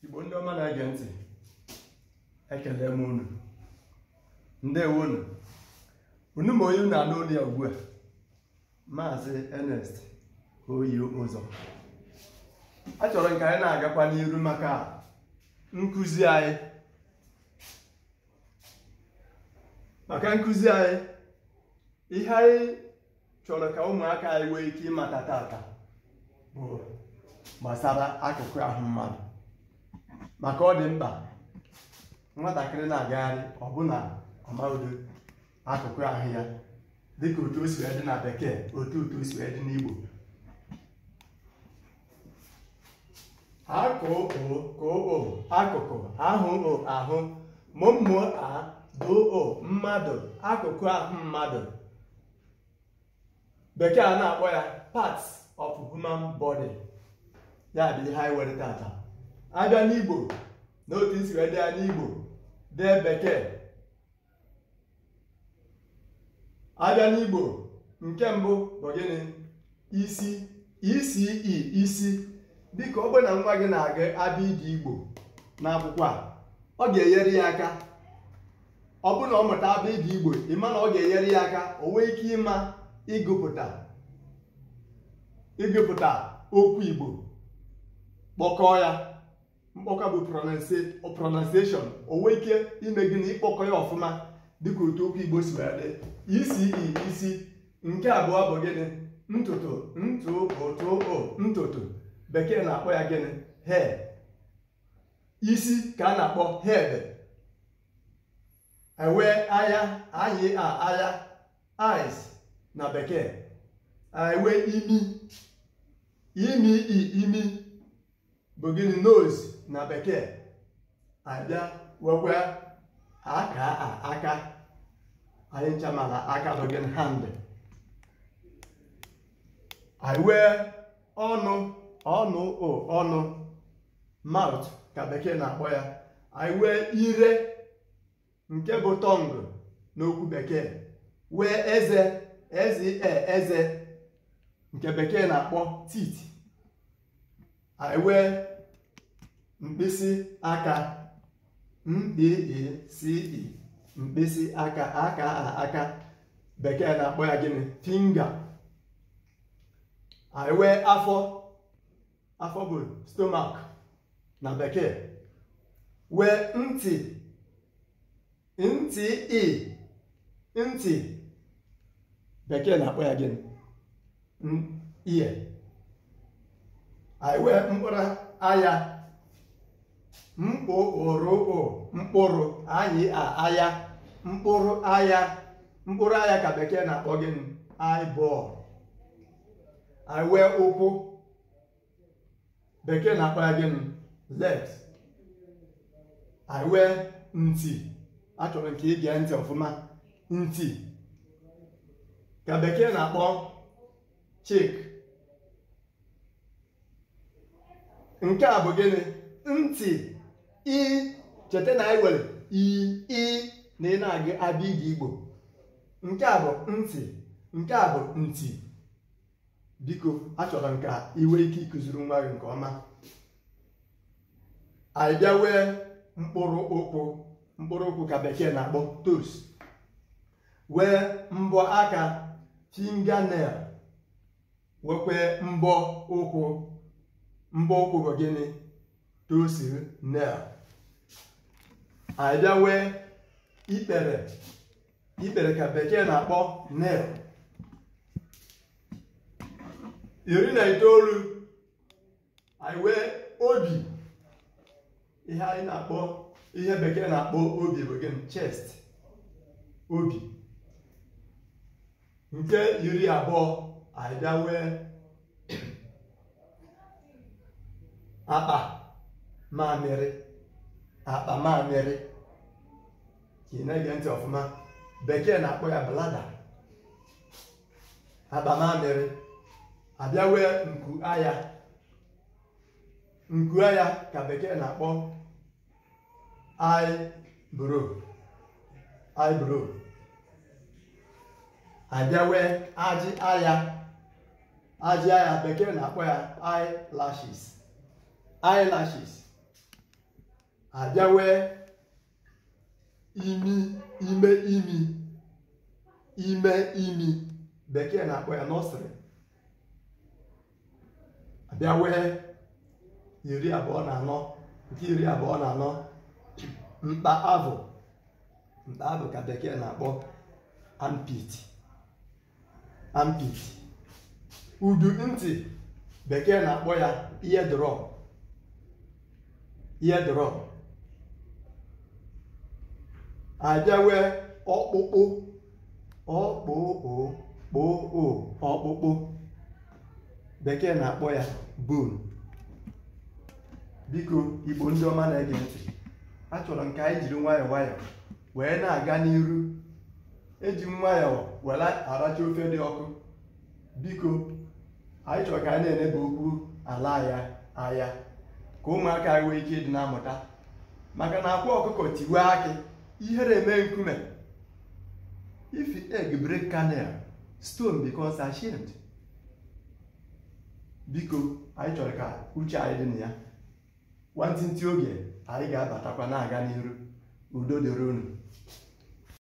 igbo ndị ọma na-ege ntị ekele m unu ndewo nụ unu ma onye unu anụ olu ya ugbu a maazị Ernest oyi ụzọ achọrọ m ka anyị na-agakwa n'iru maka nkụzi anyị maka nkụzi anyị ihe anyị chọrọ ka ụmụaka anyị nwee ike ịmata tata bụ gbasara akụkụ ahụ mmadụ maka ọ dị mkpa nwatakịrị na-agagharị ọbụna ọmaodo akụkụ ahụ ya dịka otu o si wee dị na bekee otu otu o si wee dị n'igbo a kụ ụ kụ ụ akụkụ a hụ ụ ahụ mụ mụ a dụ ụ mmadụ akụkụ ahụ mmadụ bekee a na-akpọ ya parts of human body ya bụ ihe anyị were tata a bịa n'igbo n'otu e si wee dee ya n'igbo dee bekee a bịa n'igbo nke mbụ bụ gịnị isi isi i isi dịka ọ bụrụ na nwa gị na-agụ abịịdịị igbo n'akwụkwọ a ọ ga-enyere ya aka ọ bụrụ na ọ mụta abịịdịị igbo ị ma na ọ ga-enyere ya aka o nwee ike ịma ịgụpụta ịgụpụta okwu igbo kpọkọọ ya mkpọkọ bụ pronunciation o nwee ike ime gịnị ịkpọkọ ya ọfụma dịka otu okwu igbo si wee dị isi i isi nke abụọ bụ gịnị ntutu ntu u tu u ntutu bekee na-akpọ ya gịnị hair isi ka a na-akpọ head e wee anya a nyị a anya eyes na bekee e wee imi imi i imi bụ gịnị nose na bekee a bịa wekwa aka a aka anyị ncha ma na aka bụ gịnị hand anyị wee ọnụ ọnụ ụ ọnụ mouth ka bekee na-akpọ ya anyị wee ire nke bụ tongue n'okwu bekee wee eze eze eze nke bekee na-akpọ teeth anyị wee mkpịsị aka mkpịsị ị mkpịsị aka aka aka bekee na-akpọ ya gịnị finger anyị wee afọ afọ bụ stomach na bekee wee ntị ntị i ntị bekee na-akpọ ya gịnị ear anyị wee mkpụrụ aya mkpụrụ mkpụrụ anyị aya mkpụrụ aya mkpụrụ aya ka bekee na-akpọ gịnị eyeball anyị wee ụkwụ bekee na-akpọ ya gịnị legs anyị wee nti achọrọ m ka ị gee ntị ọfụma nti ka bekee na-akpọ cheek nke a bụ gịnị nti i cheta na anyị nwere i i na ị na-agụ abịdịị igbo nke a bụ nti nke a bụ ntị biko achọrọ m ka ị nwee ike ịkụziri nwa gị nke ọma anyị bịa wee mkpụrụ ụkwụ mkpụrụ ụkwụ ka bekee na-akpọ toes wee mbọ aka fingernail weekwa mbọ ụkwụ mbọ ụkwụ bụ gịnị toes nail anyị bịa wee ikpere ikpere ka bekee na-akpọ kneel iri na itoolu anyị wee obi ihe anyị na-akpọ ihe bekee na-akpọ obi bụ gịnị chest obi nke iri abụọ anyị bịa wee akpa mamịrị akpa mamịrị ka ị na-ege ntị ọfụma bekee na-akpọ ya bladder akpa mamịrị abịa wee nku aya nku aya ka bekee na-akpọ eyebrow eyebrow abịa wee ajị aya ajị aya bekee na-akpọ ya eyelashes eyelashes abịa wee imi ime imi ime imi bekee na-akpọ ya nostril abịa wee iri abụọ na anọ nke iri abụọ na anọ mkpa avụ mkpa avụ ka bekee na-akpọ armpit armpit udu ntị bekee na-akpọ ya eardrum eardrum abịawe ọkpụkpụ ọkpụkpụ ọkpụkpụ bekee na-akpọ ya bone biko igbo ndị ọma na-ege ntị achọrọ m ka anyị jiri nwayọọ nwayọọ wee na-aga n'iru eji nwayọọ were aracha ofe dị ọkụ biko anyị chọrọ ka anyị na-enebe okwu ala anya ka ụmụaka anyị nwee ike ịdị na-amụta maka na akwa ọkụkọ tiwe akị ihere eme nkume if egg break kernel stone becomes ashamed biko anyị chọrọ ka uche anyị dị na ya nwantịntị oge anyị ga-abatakwa na-aga n'iru udo dịrị unu